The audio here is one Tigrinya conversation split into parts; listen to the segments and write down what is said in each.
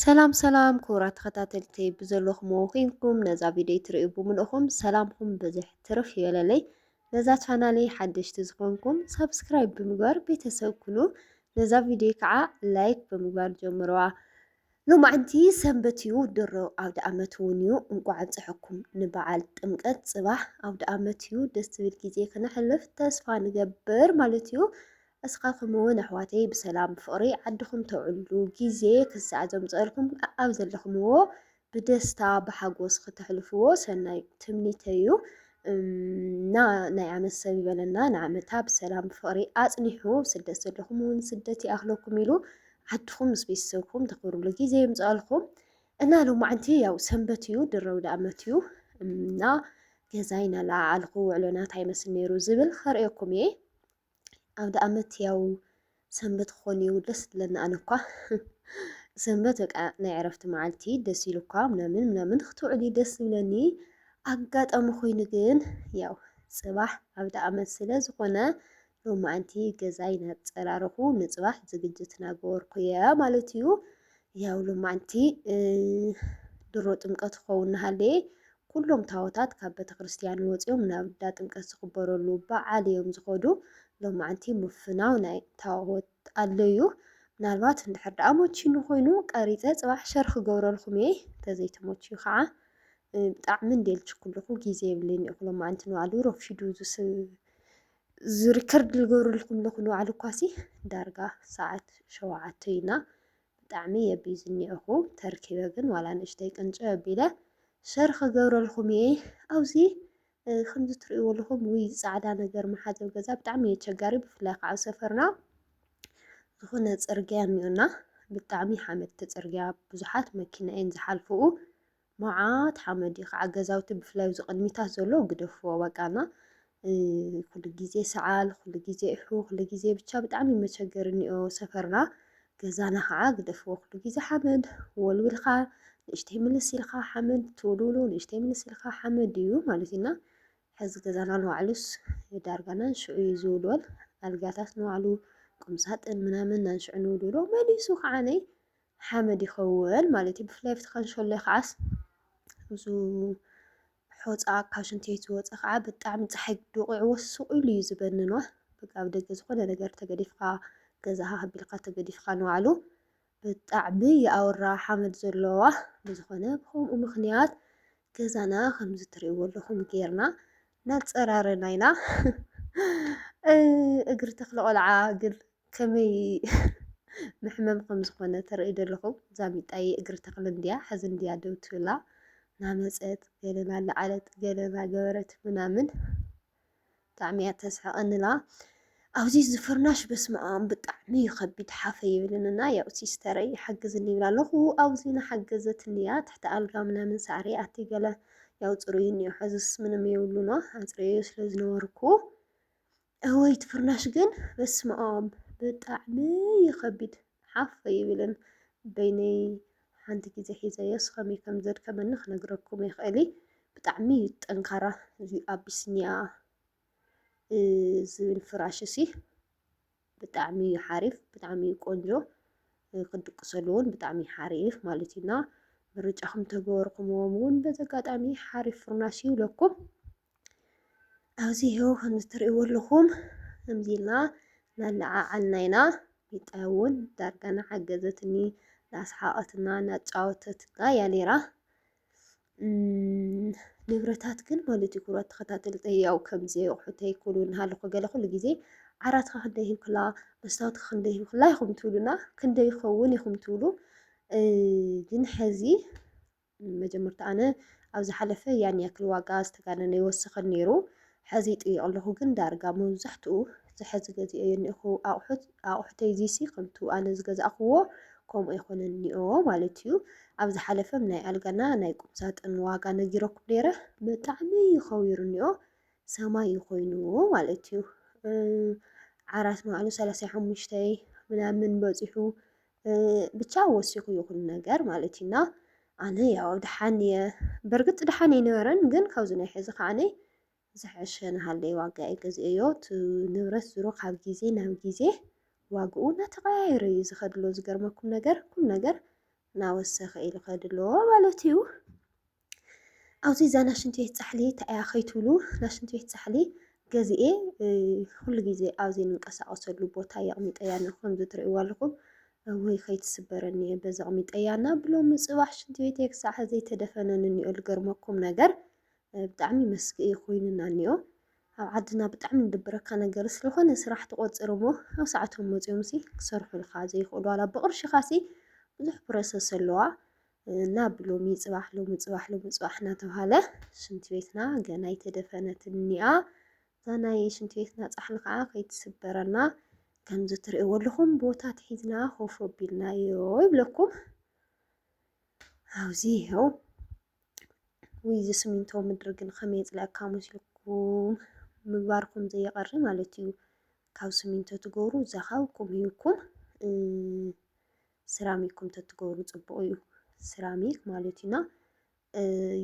ሰላም ሰላም ክቡራት ተኸታተልቲ ብዘለኹምዎ ኮይንኩም ነዛ ቪድዮ ትርእዩ ብምልእኹም ሰላምኩም ብዝሕ ትርፍ ይበለለይ። ነዛ ቻናል ሓደሽቲ ዝኾንኩም ሳብስክራይብ ብምግባር ቤተሰብ ኩኑ። ነዛ ቪድዮ ከዓ ላይክ ብምግባር ጀምረዋ። ሎማዕንቲ ሰንበት እዩ፣ ድሮ ኣውደ ኣመት እውን እዩ። እንቋዕ ኣብፀሐኩም ንበዓል ጥምቀት። ፅባሕ ኣውደ ኣመት እዩ፣ ደስ ዝብል ግዜ ክነሕልፍ ተስፋ ንገብር ማለት እዩ። እስኻትኩም እውን ኣሕዋተይ ብሰላም ብፍቕሪ ዓድኹም ተውዕልሉ ጊዜ ክሳዕ ዘምፀኣልኩም ኣኣብ ዘለኹምዎ ብደስታ ብሓጎስ ክተሕልፍዎ ሰናይ ትምኒተይ እዩ። እና ናይ ዓመት ሰብ ይበለና ንዓመታ ብሰላም ብፍቕሪ ኣፅኒሑ ስደት ዘለኹም እውን ስደት ይኣኽለኩም ኢሉ ዓድኹም ምስ ቤተሰብኩም ተኽብርሉ ጊዜ የምፀኣልኩም። እና ሎማዓንቲ ያው ሰንበት እዩ ድረው ዳኣመት እዩ እና ገዛይ ናለዓዓልኹ ውዕሎናት ኣይመስል ነይሩ ዝብል ከርእየኩም እየ ኣውደኣመት ያው ሰንበት ክኾን እዩ ደስ ትብለኒ ኣነ እኳ ሰንበት በቃ ናይ ዕረፍቲ መዓልቲ ደስ ኢሉኳ ምናምን ምናምን ክትውዕሊ ደስ ዝብለኒ ኣጋጣሚ ኮይኑ ግን ያው ፅባሕ ኣብ ደኣመት ስለ ዝኾነ ሎማዓንቲ ገዛይ ናብ ፀራርኹ ንፅባሕ ዝግጅት ናገበርኩ እየ ማለት እዩ። ያው ሎማዕንቲ ድሮ ጥምቀት ክኸውን እናሃለየ ኩሎም ታወታት ካብ ቤተ ክርስቲያን ወፂኦም ናብ እንዳ ጥምቀት ዝኽበረሉ በዓል እዮም ዝኸዱ። ሎማዕንቲ ምፍናው ናይ ታወት ኣሎ እዩ። ምናልባት እንድሕር ደኣ ሞቺኑ ኮይኑ ቀሪፀ ፅባሕ ሸር ክገብረልኩም እየ ተዘይተሞችዩ ከዓ ብጣዕሚ እንዴልች ኩልኹ ግዜ የብለይን እኹ ሎማዕንቲ ንባዕሉ ረፊዱ ዝሪከርድ ዝገብረልኩም ለኹ ንባዕሉ እኳሲ ዳርጋ ሰዓት ሸውዓተ ኢና ብጣዕሚ የብይ ዝኒኦኹ ተርኪበ ግን ዋላ ንእሽተይ ቅንጭብ ኣቢለ ሸር ክገብረልኹም እየ ኣብዚ ከምዚ ትርእይዎ ኣለኹም ውይ ፃዕዳ ነገር ምሓዝ ኣብ ገዛ ብጣዕሚ እየ ቸጋሪ ብፍላይ ከዓ ሰፈርና ዝኾነ ፅርግያ እኒኦና ብጣዕሚ ሓመድቲ ፅርግያ ብዙሓት መኪና እየን ዝሓልፍኡ ማዓት ሓመድ እዩ ከዓ ገዛውቲ ብፍላይ ኣብዚ ቅድሚታት ዘሎ ግደፍዎ በቃ እና ኩሉ ግዜ ሰዓል ኩሉ ግዜ እሑ ኩሉ ግዜ ብቻ ብጣዕሚ መቸገሪ እኒኦ ሰፈርና ገዛና ከዓ ግደፍዎ ኩሉ ግዜ ሓመድ ወልዊልካ ንእሽተይ ምልስ ኢልካ ሓመድ ትውልውሉ ንእሽተይ ምልስ ኢልካ ሓመድ እዩ ማለት እዩ እና ሕዚ ገዛና ንባዕሉስ ዳርጋ ናንሽዑ እዩ ዝውልወል ኣልጋታት ንባዕሉ ቁምሳጥን ምናምን ናንሽዑ ንውልውሎ መሊሱ ከዓ ነይ ሓመድ ይኸውን ማለት እዩ። ብፍላይ ኣብቲ ካንሸሎ ከዓስ እዚ ሖፃ ካብ ሽንቲ ቤት ዝወፀ ከዓ ብጣዕሚ ፀሓይ ደቂዕዎ ስቕ ኢሉ እዩ ዝበንኖ። በቃ ኣብ ደገ ዝኾነ ነገር ተገዲፍካ ገዛኻ ከቢልካ ተገዲፍካ ንባዕሉ ብጣዕሚ የኣውራ ሓመድ ዘለዋ ብዝኾነ ብከምኡ ምክንያት ገዛና ከምዚ ትሪእዎ ኣለኹም ጌርና ነፀራርና ኢና። እግሪ ተኽለ ቆልዓ ግን ከመይ መሕመም ከም ዝኾነ ተርእዩ ዘለኹም እዛ ሚጣየ እግሪ ተኽሊ እንድያ ሕዚ እንድያ ደው ትብላ ናመፀት ገለና ለዓለት ገለና ገበረት ምናምን ብጣዕሚ እያ ተስሕቀንላ ኣብዚ ዝፍርናሽ በስመኣም ብጣዕሚ እዩ ከቢድ ሓፈ ይብልንና ያው ሲስተረይ ይሓግዝኒ ይብላ ኣለኹ ኣብዚ ንሓገዘትኒ እያ ትሕቲ ኣልጋ ምናምን ሳዕሪ ኣቲ ገለ ያው ፅሩይ እኒኦ ሕዝስ ምንም የብሉና ኣፅረዮ ስለ ዝነበርኩ እወይት ፍርናሽ ግን በስመኣም ብጣዕሚ ይኸቢድ ሓፍ ኣይብልን በይነይ ሓንቲ ግዜ ሒዘዮስ ከመይ ከም ዘድከመኒ ክነግረኩም ኣይክእልይ ብጣዕሚ እዩ ጠንካራ እዚ ኣቢስንያ ዝብል ፍራሽ እሲ ብጣዕሚ እዩ ሓሪፍ ብጣዕሚ እዩ ቆንጆ ክድቅሰሉ እውን ብጣዕሚ ሓሪፍ ማለት እዩና ምርጫኹም ተገበርኩምዎም እውን በዚ ኣጋጣሚ ሓሪፍ ፍርናሽ ይብለኩም ኣብዚ ሄው ከም እትርእይዎ ኣለኹም ከምዚ ኢልና እናለዓዓልና ኢና። ሚጣይ እውን ዳርጋ እናሓገዘትኒ እናስሓቐትና እናተጫወተትና እያ ነይራ። ንብረታት ግን ማለት እዩ ክቡራት ተኸታተልቲ ያው ከምዚ ኣቑሑተይ ኩሉ እናሃለኹ ገለ ኩሉ ግዜ ዓራትካ ክንደይ ሂብክላ መስታወትካ ክንደይ ሂብክላ ኢኹም ትብሉና ክንደይ ይኸውን ኢኹም ትብሉ ግን ሕዚ መጀመርታ ኣነ ኣብ ዝሓለፈ ያን ያክል ዋጋ ዝተጋነነ ይወስኸን ነይሩ ሐዚ ይጥይቕ ኣለኹ ግን ዳርጋ መብዛሕትኡ ዝሐዚ ገዚኦዮ እኒኦኹ ኣቑሑት ኣቑሑተይ ዚሲ ከምቱ ኣነ ዝገዛእኽዎ ከምኡ ኣይኮነን እኒኦ ማለት እዩ ኣብ ዝሓለፈም ናይ ኣልጋና ናይ ቁምሳጥን ዋጋ ነጊረኩም ነይረ ብጣዕሚ ይኸዊሩ እኒኦ ሰማይ ይኮይኑ ማለት እዩ ዓራት መዓሉ ሰላሳ ሓሙሽተ ምናምን በፂሑ ብቻ ወሲኹ ይኹን ነገር ማለት እዩና ኣነ ያው ድሓን እየ በርግፅ ድሓን ኣይነበረን ግን ካብዚ ናይ ሕዚ ከዓነ ዝሐሸ ንሃለይ ዋጋ እዩ ገዚኦዮ እቲ ንብረት ዝሮ ካብ ግዜ ናብ ግዜ ዋግኡ እናተቀያየረ እዩ ዝኸድሎ ዝገርመኩም ነገር ኩሉ ነገር እናወሰኸ እዩ ዝኸድሎ ማለት እዩ ኣብዚ እዛ ናሽንቲ ቤት ፃሕሊ እንታይያ ከይትብሉ ናሽንቲ ቤት ፃሕሊ ገዚኤ ኩሉ ግዜ ኣብዚ ንንቀሳቀሰሉ ቦታ የቕሚጠያ ኣለኹ ከምዚ ትርእይዎ ኣለኹም ወይ ከይትስበረኒ እየ በዚ ኣቕሚጠያ እና ብሎሚ ፅባሕ ሽንቲ ቤት ክሳዕ ዘይተደፈነን እኒኦ ዝገርመኩም ነገር ብጣዕሚ መስግኢ ኮይኑና እኒኦ ኣብ ዓድና ብጣዕሚ ንድብረካ ነገር ስለኾነ ስራሕ ትቆፅር እሞ ኣብ ሰዓቶም መፂኦም ሲ ክሰርሑልካ ዘይኽእሉ ዋላ ብቕርሽኻ ሲ ብዙሕ ፕሮሰስ ኣለዋ እና ብ ሎሚ ፅባሕ ሎሚ ፅባሕ ሎሚ ፅባሕ እናተብሃለ ሽንቲ ቤትና ገና ኣይተደፈነትን እኒኣ። እዛ ናይ ሽንቲ ቤትና ፃሕሊ ከዓ ከይትስበረና ከምዚ ትርእይዎ ኣለኹም ቦታ ትሒዝና ኮፍ ኣቢልናዮ ይብለኩም። ኣብዚ ይኸው ወይ እዚ ስሚንቶ ምድሪ ግን ከመይ የፅልኣካ መስልኩም ምግባርኩም ዘየቐሪ ማለት እዩ ካብ ስሚንቶ ትገብሩ ዘኻብኩም ሂብኩም ስራሚክ ከም ተትገብሩ ፅቡቅ እዩ ስራሚክ ማለት እዩና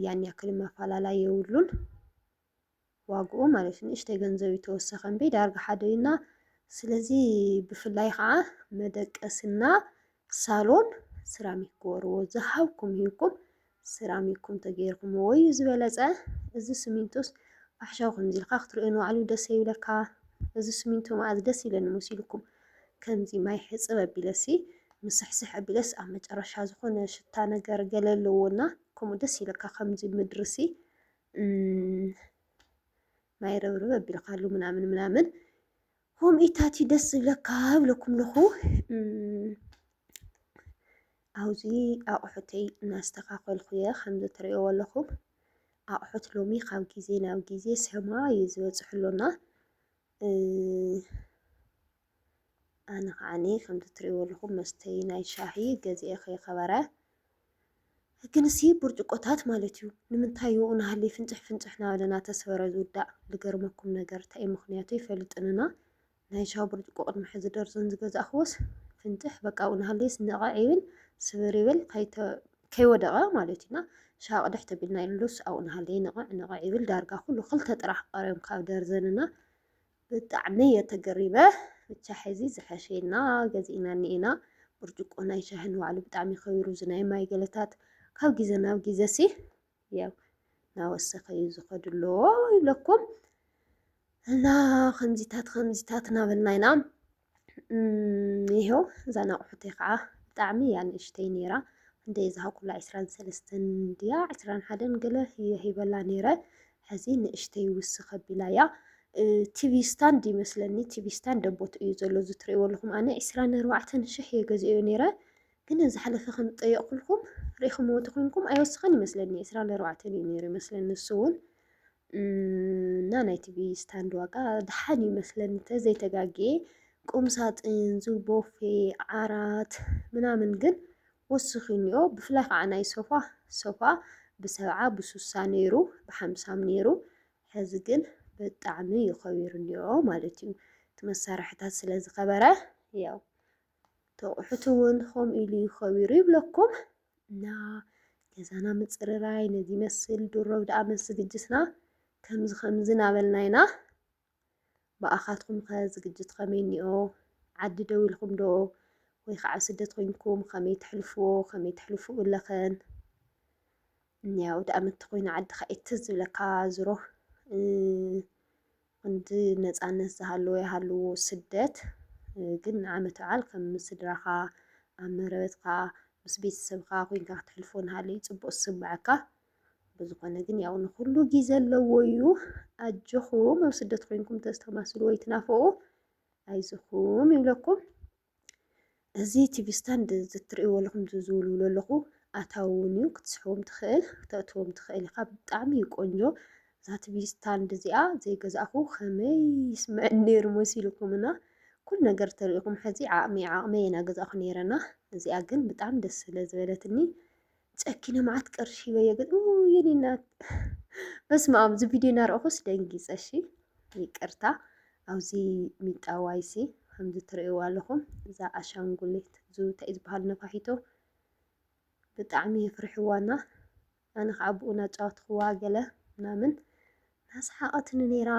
ያን ያክል መፈላለይ የብሉን ዋግኡ ማለት እዩ ንእሽተይ ገንዘብ እዩ ተወሰኸ እምበ ዳርጋ ሓደ እዩና ስለዚ ብፍላይ ከዓ መደቀስና ሳሎን ስራሚክ ገበርዎ ዝሃብኩም ሂብኩም ስራሚኩም ተገይርኩምዎ እዩ ዝበለፀ እዚ ስሚንቶስ ፋሕሻው ከምዚ ኢልካ ክትሪኦ ንባዕሉ ደስ ኣይብለካ እዚ ስሚንቶ መኣዝ ደስ ኢለኒ መሲልኩም ከምዚ ማይ ሕፅብ ኣቢለሲ ምስሕስሕ ኣቢለስ ኣብ መጨረሻ ዝኾነ ሽታ ነገር ገለ ኣለዎና ከምኡ ደስ ኢለካ ከምዚ ምድርሲ ማይ ርብርብ ኣቢልካሉ ምናምን ምናምን ሆም ኢታቲ ደስ ዝብለካ ይብለኩም ኣለኹ ኣብዙ ኣቕሑተይ እናስተኻኸልኩየ ከምዚ ትርእይዎ ኣለኹም ኣቕሑት ሎሚ ካብ ግዜ ናብ ግዜ ሰማ እዩ ዝበፅሕሎና ኣነ ከዓኒ ከምቲ ትሪእዎ ኣለኹም መስተይ ናይ ሻሂ ገዚኤ ከይከበረ ግን እሲ ብርጭቆታት ማለት እዩ ንምንታይ ይኡ ናሃሊ ፍንጭሕ ፍንጭሕ ናበለና ተስበረ ዝውዳእ ዝገርመኩም ነገር እንታይ ምክንያቱ ይፈልጥንና ናይ ሻው ብርጭቆ ቅድሚ ሕዚ ደርዘን ዝገዛእክዎስ ፍንጥሕ በቃ ኣብኡ ናሃለየስ ነቐዕ ይብል ስብር ይብል ከይወደቐ ማለት እዩና ሻው ቅድሕ ተቢልና ኢሉስ ኣብኡ ናሃለየ ነቐዕ ነቐዕ ይብል ዳርጋ ኩሉ ክልተ ጥራሕ ቀርዮም ካብ ደርዘንና ብጣዕሚ እየ ተገሪመ ብቻ ሕዚ ዝሐሸና ገዚእና እኒኤና ብርጭቆ ናይ ሻሂ ንባዕሉ ብጣዕሚ ከቢሩ እዚ ናይ ማይ ገለታት ካብ ግዜ ናብ ግዜ ሲ ያው ናወሰኸ እዩ ዝኸዱ ኣሎ ይብለኩም እና ከምዚታት ከምዚታት እናበልና ኢና ይሄው እዛ ናቑሑተይ ከዓ ብጣዕሚ እያ ንእሽተይ ነይራ እንደ ዝሃኩላ ዕስራን ሰለስተን ድያ ዕስራን ሓደን ገለ ይሂበላ ነይረ ሕዚ ንእሽተይ ውስኽ ኣቢላ እያ ቲቪ ስታንድ ይመስለኒ ቲቪ ስታንድ ደቦት እዩ ዘሎ እዚ ትሪእዎ ኣለኹም ኣነ ዕስራን ኣርባዕተን ሽሕ እየ ገዚኦ ነይረ ግን ኣብ ዝሓለፈ ከም ዝጠየቕኩልኩም ርኢኹምዎ ተኾይንኩም ኣይወሰኸን ይመስለኒ ዕስራን ኣርባዕተን እዩ ነይሩ ይመስለኒ ንሱ እውን እና ናይ ቲቪ ስታንድ ዋጋ ደሓን እዩ ይመስለኒ ተዘይተጋግየ ቁም ሳጥን ዝቦፌ ዓራት ምናምን ግን ወስኺ እኒኦ ብፍላይ ከዓ ናይ ሶፋ ሶፋ ብሰብዓ ብሱሳ ነይሩ ብሓምሳም ነይሩ ሕዚ ግን ብጣዕሚ ይኸቢሩ እኒኦ ማለት እዩ እቲ መሳርሕታት ስለ ዝኸበረ ያው ተቑሑት እውን ከምኡ ኢሉ እዩ ከቢሩ ይብለኩም እና ገዛና ምፅርራይ ነዚ ይመስል ድሮብ ደኣ ምስ ዝግጅትና ከምዚ ከምዚ እናበልና ኢና ብኣኻትኩም ከ ዝግጅት ከመይ እኒኦ ዓዲ ደው ኢልኩም ዶ ወይ ከዓ ኣብ ስደት ኮይንኩም ከመይ ትሕልፍዎ ከመይ ትሕልፍኡ ኣለኸን እንያው ደኣ መተ ኮይኑ ዓድኻ እየ ትዝ ዝብለካ ዝሮ ክንዲ ነጻነት ዝሃለወ ይሃልዎ ስደት ግን ንዓመት በዓል ከም ምስ ስድራኻ ኣብ መረበትካ ምስ ቤተሰብካ ኮይንካ ክትሕልፎ ንሃለዩ ጽቡቅ ዝስምዓካ ብዝኾነ ግን ያው ንኹሉ ግዜ ኣለዎ እዩ ኣጆኹም ኣብ ስደት ኮይንኩም ተስተማስሉ ወይ ትናፍቁ ኣይዞኹም ይብለኩም እዚ ቲቪ ስታንድ ዝትርእይዎ ኣለኹም ዝውልውሎ ኣለኹ ኣታዊ እውን እዩ ክትስሕቦም ትኽእል ክተእትዎም ትኽእል ኢኻ ብጣዕሚ እዩ ቆንጆ እዛ ቲቪ ስታንድ እዚኣ ዘይገዛእኹ ከመይ ይስምዐኒ ነይሩ መሲልኩምና ኩሉ ነገር ተሪኢኹም ሕዚ ዓቕመይ ዓቕመይ የናገዛእኹ ነይረና እዚኣ ግን ብጣዕሚ ደስ ስለ ዝበለትኒ ጨኪነ መዓት ቅርሺ ሂበዮ ግን የኔ እናት በስመ አብ እዚ ቪድዮ እናረእኹስ ደንጊፀ እሺ ይቅርታ ኣብዚ ሚጣ ዋይሲ ከምዚ ትርእይዋ ኣለኹም እዛ ኣሻንጉሊት ዝውታይ ዝበሃል ነፋሒቶ ብጣዕሚ የፍርሕዋና ኣነ ከዓ ብኡ እናጫወትክዋ ገለ ምናምን ናስሓቐትኒ ነይራ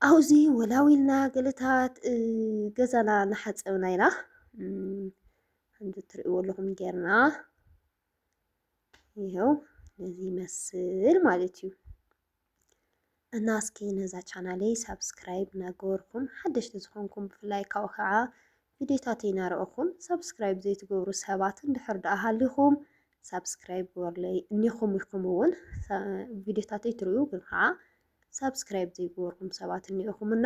ኣብዚ ወላዊልና ገለታት ገዛና ናሓፀብና ኢና ከምዚ እትርእይዎ ኣለኹም ጌርና ይኸው ነዚ ይመስል ማለት እዩ እና እስኪ ነዛ ቻናለይ ሳብስክራይብ እናገበርኩም ሓደሽቲ ዝኾንኩም ብፍላይ ካብኡ ከዓ ቪድዮታተይ እናረእኹም ሳብስክራይብ ዘይትገብሩ ሰባት እንድሕር ደኣ ሃሊኹም ሳብስክራይብ ግበርለይ እኒኹም ኢኹም እውን ቪድዮታተይ ትርእዩ ግን ከዓ ሳብስክራይብ ዘይገበርኩም ሰባት እኒኦኹምና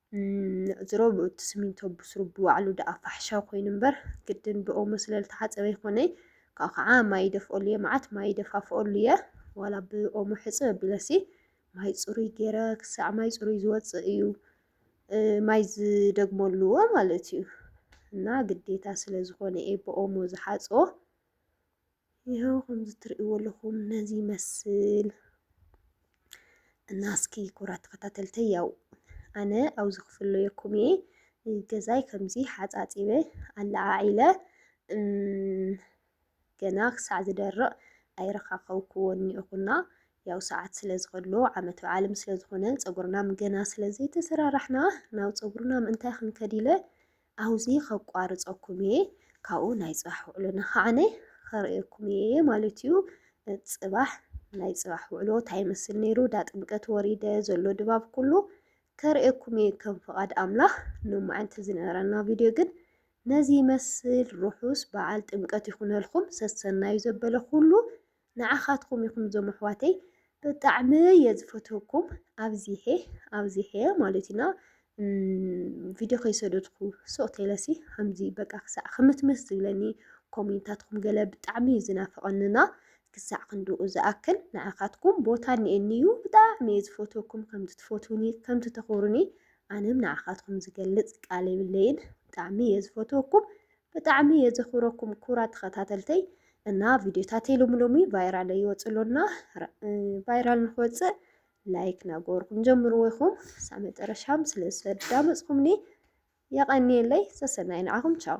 ንዕዝሮ ብእቲ ስሚንቶ ብስሩ ብባዕሉ ደኣ ፋሕሻው ኮይኑ እምበር ግድን ብኦሞ ስለ ልተሓጸበ ኣይኮነይ ካብኡ ከዓ ማይ ይደፍኦሉ እየ መዓት ማይ ይደፋፍኦሉ እየ ዋላ ብኦሞ ሕጽብ ኣቢለሲ ማይ ጽሩይ ገይረ ክሳዕ ማይ ጽሩይ ዝወጽእ እዩ ማይ ዝደግመሉ ማለት እዩ እና ግዴታ ስለ ዝኾነ እየ ብኦሞ ዝሓጽቦ ይኸው ከምዚ ትርእይዎ ኣለኹም ነዚ ይመስል እና እስኪ ኩብራት ተኸታተልተይ ያው ኣነ ኣብዚ ክፍሎ የኩም እየ ገዛይ ከምዚ ሓፃፂበ ኣለዓዒለ ገና ክሳዕ ዝደርቕ ኣይረኻኸብኩዎን እኒኦኹና ያው ሰዓት ስለ ዝኸድሎ ዓመት በዓልም ስለ ዝኾነ ፀጉርናም ገና ስለ ዘይተሰራራሕና ናብ ፀጉርናም እንታይ ክንከድ ኢለ ኣብዙይ ከቋርፀኩም እየ ካብኡ ናይ ፅባሕ ውዕሎና ከዓነ ከርእየኩም እየ ማለት እዩ ፅባሕ ናይ ፅባሕ ውዕሎ እንታይ ይመስል ነይሩ ዳጥምቀት ወሪደ ዘሎ ድባብ ኩሉ ከርእየኩም እየ ከም ፍቓድ ኣምላኽ ሎማዓንቲ ዝነበረና ቪድዮ ግን ነዚ ይመስል ርሑስ በዓል ጥምቀት ይኹነልኩም ሰሰናዩ ዘበለ ኩሉ ንዓኻትኩም ኢኹም ዞም ኣሕዋተይ ብጣዕሚ እየ ዝፈትወኩም ኣብዚሔ ኣብዚሔ ማለት እዩ እና ቪድዮ ከይሰደድኩ ሱቅ ተይለሲ ከምዚ በቃ ክሳዕ ክምትምስ ዝብለኒ ኮሜንታትኩም ገለ ብጣዕሚ እዩ ዝናፍቐንና ክሳዕ ክንድኡ ዝኣክል ንዓኻትኩም ቦታ እኒኤኒ እዩ ብጣዕሚ እየ ዝፈትወኩም ከምቲ ትፈትውኒ ከምቲ ተኽብሩኒ ኣነም ንዓኻትኩም ዝገልፅ ቃል የብለይን ብጣዕሚ እየ ዝፈትወኩም ብጣዕሚ እየ ዘኽብረኩም ኩራ ተኸታተልተይ እና ቪድዮታተይ ሎሚ ሎሚ ቫይራል ይወፅ ኣሎና ቫይራል ንክወፅእ ላይክ ናገበርኩም ጀምርዎ ይኹም ክሳብ መጨረሻም ስለ ዘዳመፅኩምኒ የቐንየለይ ሰሰናይ ንዓኹም ቻው